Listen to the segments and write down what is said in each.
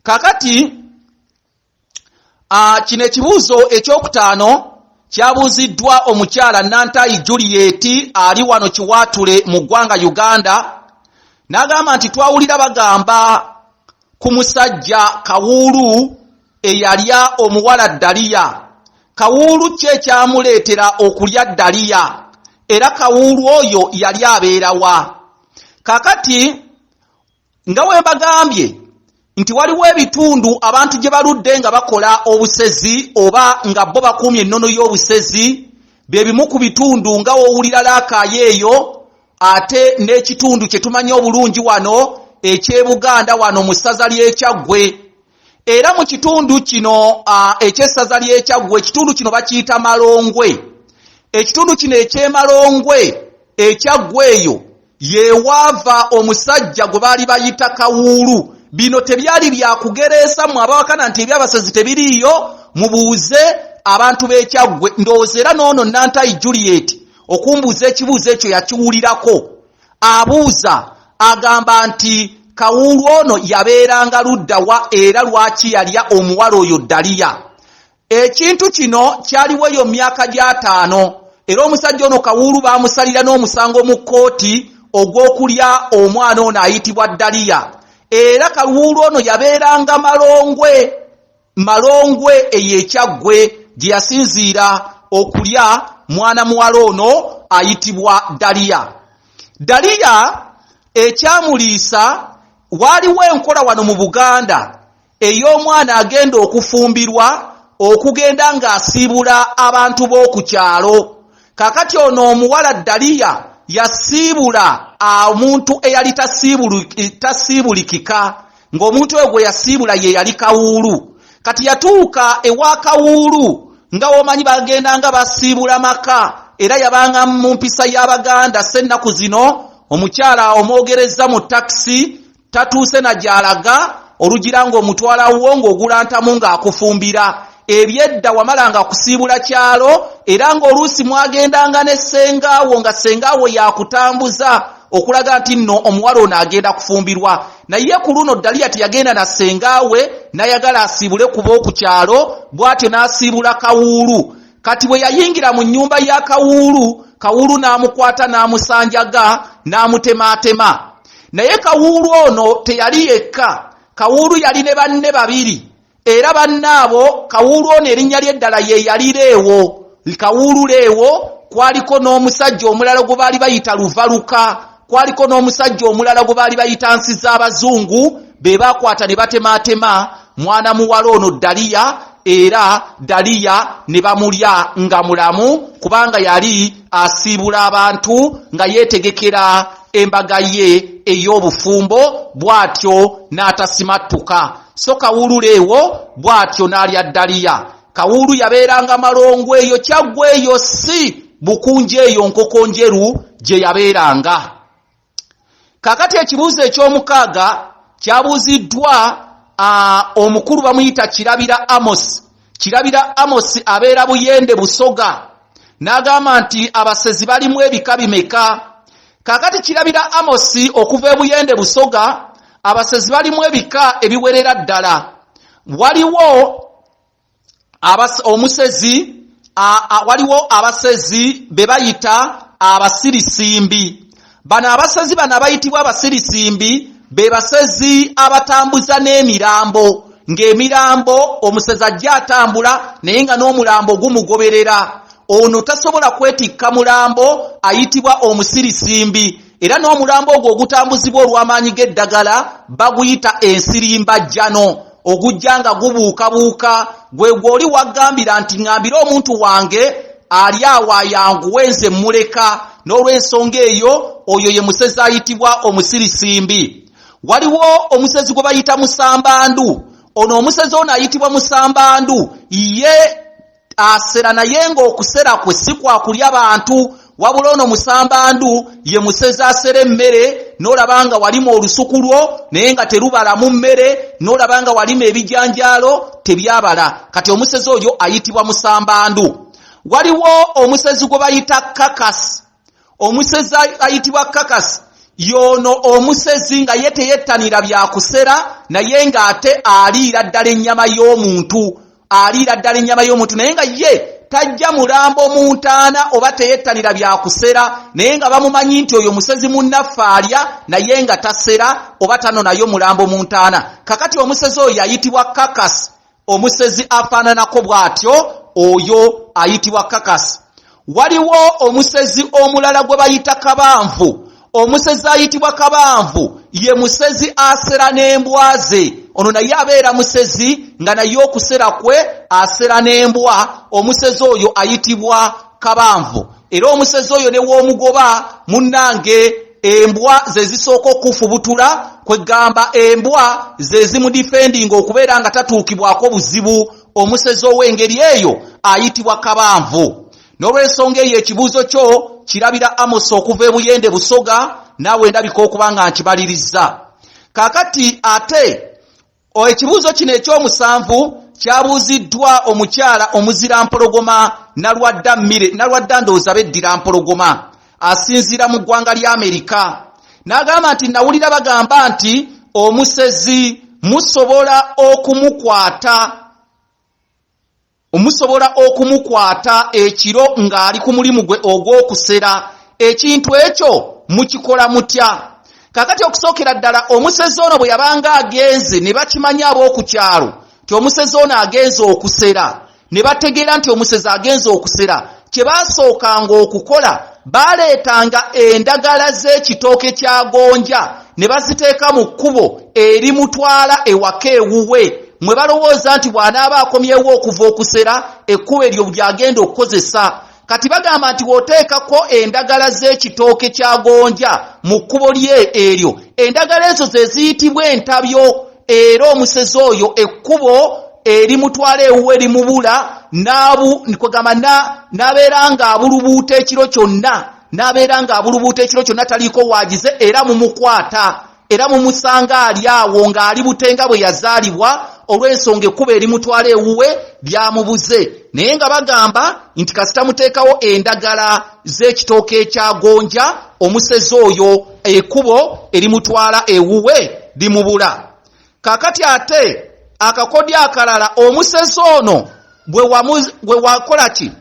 kakati ah, kino ekibuuzo ekyokutaano kyabuuziddwa omukyala nantayi juliet ali wano kiwaatule mu ggwanga uganda n'agamba nti twawulira bagamba ku musajja kawuulu eyalya omuwala Daliya. Kawuulu ki ekyamuleetera okulya Daliya, era kawuulu oyo yali abeera wa? Kaakati, nga bwe mbagambye nti waliwo ebitundu abantu gye baludde nga bakola obusezi oba nga bo bakuumye ennono y'obusezi, bye bimu ku bitundu nga w'owulira laakaayo eyo, ate n'ekitundu kye tumanyi obulungi wano eky'ebuganda wano mu ssaza ly'ekyaggwe era mu kitundu kino eky'essaza ly'ekyaggwe ekitundu kino bakiyita malongwe ekitundu kino ekyemalongwe ekyaggwa eyo yewaava omusajja gwe baali bayita kawuulu bino tebyali byakugereesa mwe abawakana nti ebyabasezi tebiriiyo mubuuze abantu b'ekyaggwe ndowooza era noono nantayi juliet okumbuuza ekibuuzo ekyo yakiwulirako abuuza agamba nti kawuulu ono yabeeranga ludda wa era lwaki yalya omuwala oyo daliya ekintu kino kyaliwo eyo myaka gyataano era omusajja ono kawuulu baamusalira n'omusango mu kkooti ogw'okulya omwana ono ayitibwa daliya era kawuulu ono yabeeranga malongwe Malongwe eyo e Kyaggwe gye yasinziira okulya mwana muwala ono ayitibwa Daliya. Daliya ekyamuliisa waaliwo enkola wano mu Buganda ey'omwana agenda okufumbirwa okugenda ng'asiibula abantu b'oku kyalo. Kaakati ono omuwala Daliya yasiibula omuntu eyali tasiibulikika. ng'omuntu oyo gwe yasiibula ye yali kawuulu kati yatuuka ewa kawuulu nga womanyi bagenda nga basiibula maka era yabanga mu mpisa y'abaganda se ennaku zino omukyala omwogerezza mu takisi tatuuse na gy'alaga olugira ng'omutwalawo ng'ogulantamu ng'akufumbira Ebyedda wamalanga kusiibula kyalo era ng'oluusi mwagendanga ne ssengaawo nga ssengaawo yakutambuza okulaga nti nno omuwala ono agenda kufumbirwa naye ku luno Daliya teyagenda na ssengaawe n'ayagala asiibule kuba oku kyalo bw'atyo n'asiibula Kawuulu. Kati bwe yayingira mu nnyumba ya Kawuulu, Kawuulu n'amukwata n'amusanjaga n'amutemaatema. Naye Kawuulu ono teyali yekka, Kawuulu yali ne banne babiri. Era banne abo, kawuulu ono erinnya lye eddala ye yali Leewo. Kawuulu Leewo, kwaliko n'omusajja omulala gwe baali bayita Luvaluka, kwaliko n'omusajja omulala gwe baali bayita Nsiz'Abazungu, be baakwata ne batemaatema mwana muwala ono Ddaliya, era Ddaliya ne bamulya nga mulamu kubanga yali asiibula abantu nga yeetegekera embaga ye ey'obufumbo bw'atyo n'atasimattuka, so Kawuulura ewo bw'atyo n'alya ddaliya. Kawuulu yabeeranga Malongo eyo Kyaggwe eyo ssi Bukunja eyo Nkokonjeru gye yabeeranga. Kaakati ekibuuzo eky'omukaaga kyabuuziddwa omukulu bamuyita Kirabira Amos, Kirabira Amos abeera Buyende Busoga n'agamba nti abasezi balimu ebika bimeka? Kaakati Kirabira Amos okuva e Buyende Busoga abasezi balimu ebika ebiwerera ddala. Waliwo omusezi waliwo abasezi be bayita abasirisimbi. bano abasezi bano abayitibwa abasirisimbi be basezi abatambuza n'emirambo ng'emirambo omusezi ajja atambula naye nga n'omulambo gumugoberera ono tasobola kwetikka mulambo ayitibwa omusirisimbi era n'omulambo ogwo ogutambuzibwa olw'amaanyi g'eddagala baguyita ensirimbajjano ogujja nga gubuukabuuka gwe gwoli waggambira nti ŋambire omuntu wange ali awo ayanguwe nze mmuleka n'olw'ensonga eyo oyo ye musezi ayitibwa omusirisimbi waliwo omusezi gwe bayita musambandu ono omusezi ono ayitibwa musambandu ye asera naye ng'okusera kwe si kwa kulya bantu wabula ono musambandu ye musezi asera emmere n'olaba nga walima olusuku lwo naye nga terubalamu mmere n'olaba nga walima ebijanjaalo tebyabala kati omusezi oyo ayitibwa musambandu waliwo omusezi gwe bayita kakasi omusezi ayitibwa kakasi yono omusezi nga ye teyettanira byakusera naye ng'ate aliira ddala ennyama y'omuntu aliira ddala ennyama y'omuntu naye nga ye tajja mulambo mu ntaana oba teyettanira byakusera naye nga bamumanyi nti oyo musezi munnaffe alya naye nga tasera oba tano nayo mulambo mu ntaana kakati omusezi oyo yayitibwa kakasi Omusezi afaananako bw'atyo oyo ayitibwa Kakasi. Waliwo omusezi omulala gwe bayita Kabanvu. Omusezi ayitibwa Kabanvu ye musezi asera n'embwa ze. Ono naye abeera musezi nga naye okusera kwe asera n'embwa. Omusezi oyo ayitibwa Kabanvu. Era omusezi oyo ne w'omugoba munnange embwa ze zisooka okufubutula kwegamba embwa ze zimudifendinga okubeera nga tatuukibwako buzibu omusezi ow'engeri eyo ayitibwa kabanvu n'olwensonga eyo ekibuuzo kyo kirabira amosi okuva ebuyende busoga naawe ndabika okuba nga nkibalirizza kakati ate Ekibuuzo kino eky'omusanvu kyabuuziddwa omukyala omuzira mpologoma Nalwadda Mire Nalwadda ndowooza beddira Mpologoma asinziira mu ggwanga lya Amerika n'agamba nti nawulira bagamba nti omusezi musobola okumukwata Musobola okumukwata ekiro ng'ali ku mulimu gwe ogw'okusera. Ekintu ekyo mukikola mutya? Kaakati, okusookera ddala, omusezi ono bwe yabanga agenze, ne bakimanya ab'oku kyalo nti omusezi ono agenze okusera, ne bategeera nti omusezi agenze okusera, kye baasookanga okukola baaleetanga endagala z'ekitooke kya gonja ne baziteeka mu kkubo erimutwala ewaka ewuwe mwe balowooza nti bw'anaaba akomyewo okuva okusera ekkubo eryo ly'agenda okukozesa kati bagamba nti w'oteekako endagala z'ekitooke kya gonja mu kkubo lye eryo endagala ezo ze ziyitibwa entabyo era omusezi oyo ekkubo erimutwala ewuwe limubula kwegamba n'abeera ng'abulubuuta ekiro kyonna n'abeera ng'abulubuuta ekiro kyonna taliiko waagize era mumukwata era mumusanga ali awo ng'ali butenga bwe yazaalibwa olw'ensonga ekkuba erimutwala ewuwe lyamubuze naye nga bagamba nti kasita muteekawo endagala z'ekitooke ekya gonja omusezi oyo ekubo erimutwala ewuwe limubula kakati ate akakodyo akalala omusezi ono bwe wakola ki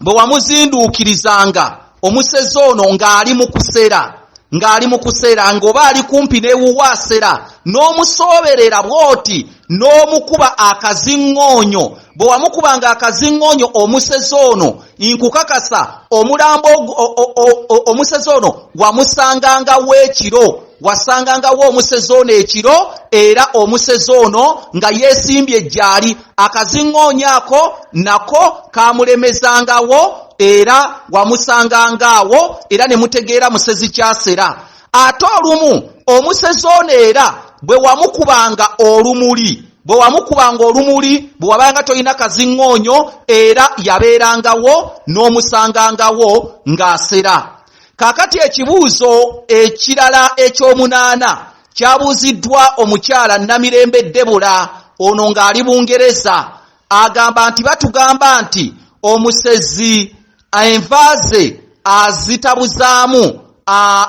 bwe wamuzinduukirizanga omusezi ono ng'ali mu kusera ng'ali mu kusera ng'oba ali kumpi n'ewuwaasera n'omusooberera bw'oti n'omukuba akaziŋŋoonyo bwe wamukuba nga akaziŋŋoonyo omusezi ono nkukakasa omulambo omusezi ono wamusangangawo ekiro wasangangawo omusezi ono ekiro era omusezi ono nga yeesimbye ejjaali akaziŋŋoonyo ako nako kaamulemezangawo era wamusangangaawo era ne mutegeera musezi kyasera ate olumu omusezi ono era bwe wamukubanga olumuli bwe wamukubanga olumuli bwe wabanga tolina kaziŋŋoonyo era yabeerangawo n'omusangangawo ng'asera kaakati ekibuuzo ekirala eky'omunaana kyabuuziddwa omukyala namirembe debula ono ng'ali bungereza agamba nti batugamba nti omusezi envaaze azitabuzaamu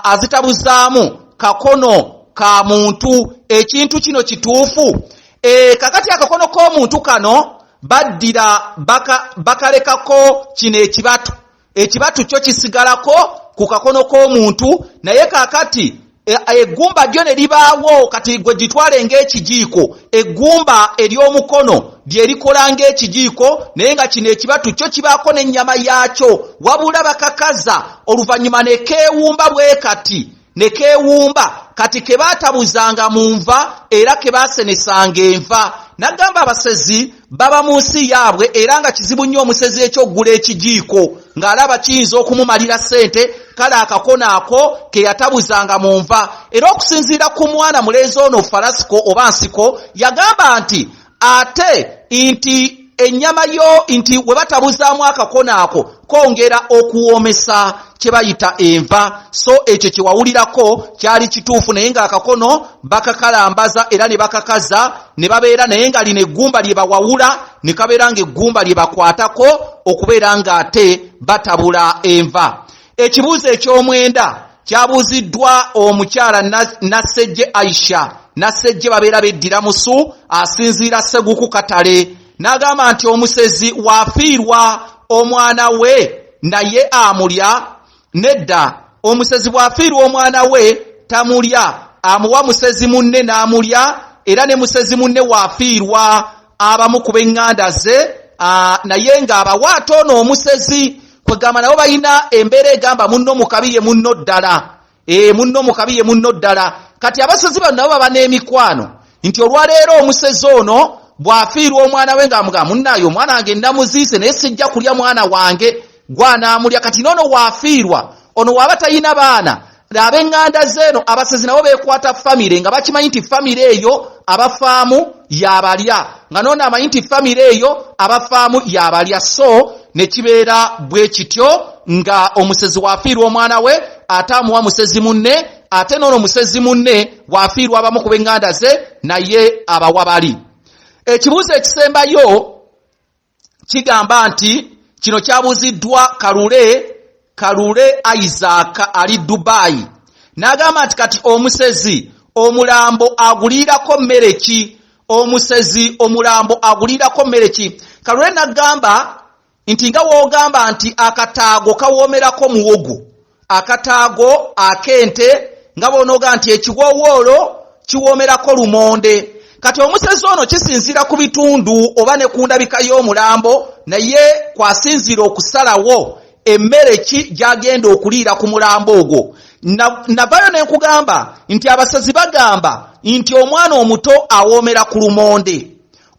azitabuzaamu kakono ka muntu ekintu kino kituufu e, kakati akakono k'omuntu kano baddira bakalekako baka kino ekibatu ekibatu kyo kisigalako ku kakono k'omuntu naye kakati eggumba lyo ne libaawo kati gwe gitwale ng'ekijiiko eggumba ery'omukono lyerikola ng'ekijiiko naye nga kino ekibatu kyo kibaako n'ennyama yaakyo wabula bakakaza oluvannyuma ne keewumba bwe kati ne keewumba kati ke baatabuzanga mu nva era ke baasenesanga enva n'agamba abasezi baba mu nsi yaabwe era nga kizibu nnyo omusezi ekyokugula ekijiiko ng'alaba kiyinza okumumalira ssente kale akakona ako ke yatabuzanga mu nva era okusinziira ku mwana mulenzi ono falasiko oba nsiko yagamba nti ate nti ennyama yo nti we batabuzaamu akakona ako kwongera okuwoomesa kye bayita enva so ekyo kye wawulirako kyali kituufu naye ng'akakono bakakalambaza era ne bakakaza ne babeera naye nga lino eggumba lye bawawula ne kabeera ng'eggumba lye bakwatako okubeera ng'ate batabula enva ekibuuzo eky'omwenda kyabuuziddwa omukyala nassejje aisha nassejje babeera beddira musu asinziira seguku katale n'agamba nti omusezi wafiirwa omwana we naye amulya nedda omusezi bw'afiirwa omwana we tamulya amuwa musezi munne n'amulya era ne musezi munne wafiirwa abamu ku b'eŋŋanda ze naye ng'abawa ate ono omusezi kwegamba nabo balina embeera egamba munno mu kabi ye munno ddala ee munno mukabi ye munno ddala kati abasezi bano nabo baba n'emikwano nti olwaleero omusezi ono bw'afiirwa omwana we ng'amuga munnaayo omwana wange namuziise naye sijja kulya mwana wange gwanaamulya kati noono waafiirwa ono waaba talina baana ab'eŋŋanda zeeno abasezi nabo beekwata famire nga bakimanyi nti famire eyo abafaamu yabalya nga noona amanyi nti famire eyo abafaamu yabalya so nekibeera bwe kityo nga omusezi wafiirwa omwana we ate amuwa musezi munne ate noono musezi munne wafiirwa abamu ku benganda ze naye abawa bali ekibuuzo ekisembayo kigamba nti kino kyabuziddwa Kalule Kalule Isaac ali Dubai n'agamba nti kati omusezi omulambo aguliirako mmere ki omusezi omulambo aguliirako mmere ki Kalule n'agamba nti nga w'ogamba nti akataago kawoomerako muwogo akataago ak'ente nga bw'onooga nti ekiwoowoolo kiwoomerako lumonde kati omusezi ono kisinziira ku bitundu oba ne ku ndabika y'omulambo naye kwasinziira okusalawo emmere ki gy'agenda okuliira ku mulambo ogwo navayo ne nkugamba nti abasazi bagamba nti omwana omuto awoomera ku lumonde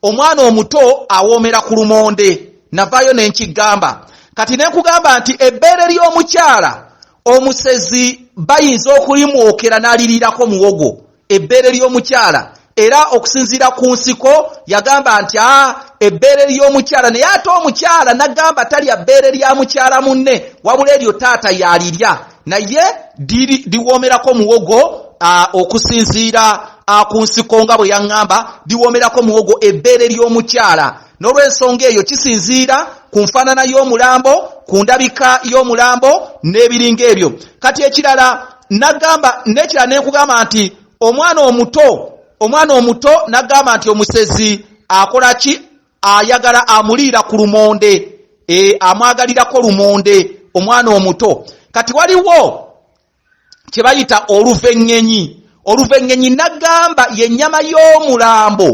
omwana omuto awoomera ku lumonde navaayo ne nkigamba kati ne nkugamba nti ebbeere ly'omukyala omusezi bayinza okulimwokera n'aliriirako muwogo ebbeere ly'omukyala era okusinziira ku nsiko yagamba nti a ah, ebbeere ly'omukyala naye ate omukyala nagamba talya bbeere lya mukyala munne wabula eryo taata yalirya naye diwoomerako muwogo okusinziira ku nsiko nga bwe yaŋŋamba diwoomerako muwogo ebbeere ly'omukyala n'olw'ensonga eyo kisinziira ku nfaanana y'omulambo ku ndabika y'omulambo n'ebiringa ebyo kati ekirala nagamba n'ekirala ne nkugamba nti omwana omuto omwana omuto nagamba nti omusezi akola ki ayagala amuliira ku lumonde e, amwagalirako lumonde omwana omuto kati waliwo kye bayita oluvengenyi oluvengenyi nagamba yennyama y'omulambo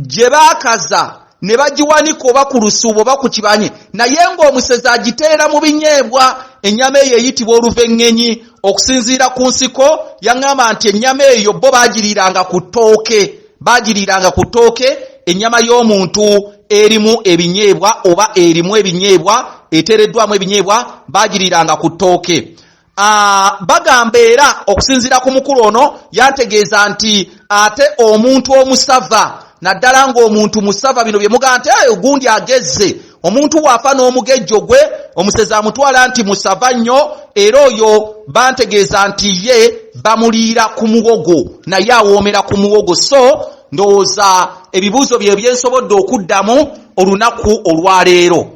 gye baakaza ne bagiwanika oba ku lusuubo oba ku kibanye naye ng'omusezi agiteera mu binyeebwa ennyama eyo eyitibwa oluvengenyi okusinziira ku nsiko yaŋŋamba nti ennyama eyo bo bagiriiranga ku ttooke Baagiriiranga ku ttooke, ennyama y'omuntu erimu ebinyeebwa oba erimu ebinyeebwa, eteereddwamu ebinyeebwa, baagiriiranga ku ttooke. Ah, bagamba era okusinziira ku mukulu ono yantegeeza nti ate omuntu omusava naddala ng'omuntu musava bino bye mugamba nti ogundi agezze omuntu waafa n'omugejjo gwe omusezi amutwala nti musava nnyo era oyo bantegeeza nti ye bamuliira ku muwogo naye awoomera ku muwogo so ndowooza ebibuuzo bye byensobodde okuddamu olunaku olwaleero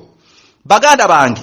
baganda bange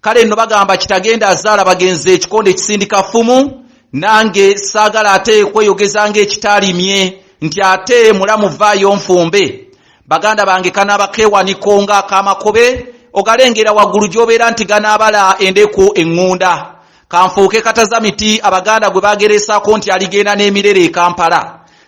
kale nno bagamba kitagenda azaala bagenzi ekikonde ekisindika ffumu nange saagala ate kweyogeza ng'ekitaalimye nti ate mulamu vaayo nfumbe baganda bange kanaabakeewaniko nga akamakobe ogalengera waggulu gy'obeera nti ganaabala endeku eŋŋunda kanfuuke kataza miti abaganda gwe bagereesaako nti aligenda n'emirere e kampala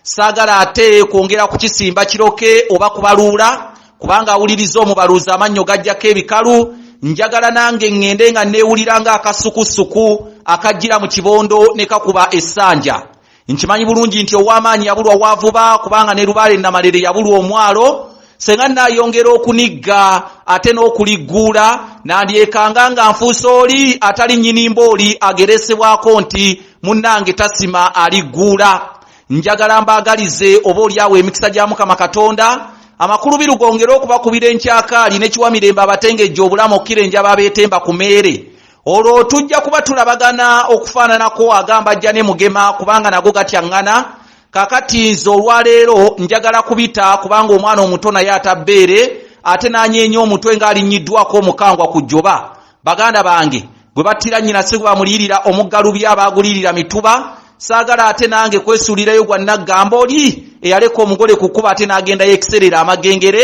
Saagala ate kwongera kukisimba kiroke oba kubaluula kubanga awuliriza omubaluuzi amannyo gajjako ebikalu njagala nange ŋŋende nga nneewulira ng'akassukussuku akajjira mu kibondo ne kakuba essanja nkimanyi bulungi nti ow'amaanyi yabulwa waavuba kubanga ne lubaale namalere yabulwa omwalo senga nnaayongera okunigga ate n'okuligguula nandyekanga nga nfuusa oli atali nnyini mbooli ageresebwako nti munnange tasima aligguula njagala mbaagalize oba olyawo emikisa gya mukama katonda amakulu birugongere okubakubira enkyakaali nekiwa mirembe abatengejja obulamu okkira enjaba abeetemba ku meere olwo tujja kuba tulabagana okufaananako agamba ajja ne mugema kubanga nago gatyaŋŋana kakati nze olwaleero njagala kubita kubanga omwana omuto naye atabbeere ate n'anyeenya omutwe ng'alinnyiddwako omukangwa ku jjoba baganda bange gwe battira nnyina si gwe bamuliyirira omuggalubi abaaguliyirira mituba saagala ate nange kwesuulirayo gwa naggambo oli eyaleka omugole ku kkuba ate n'agendayo ekiseerera amagengere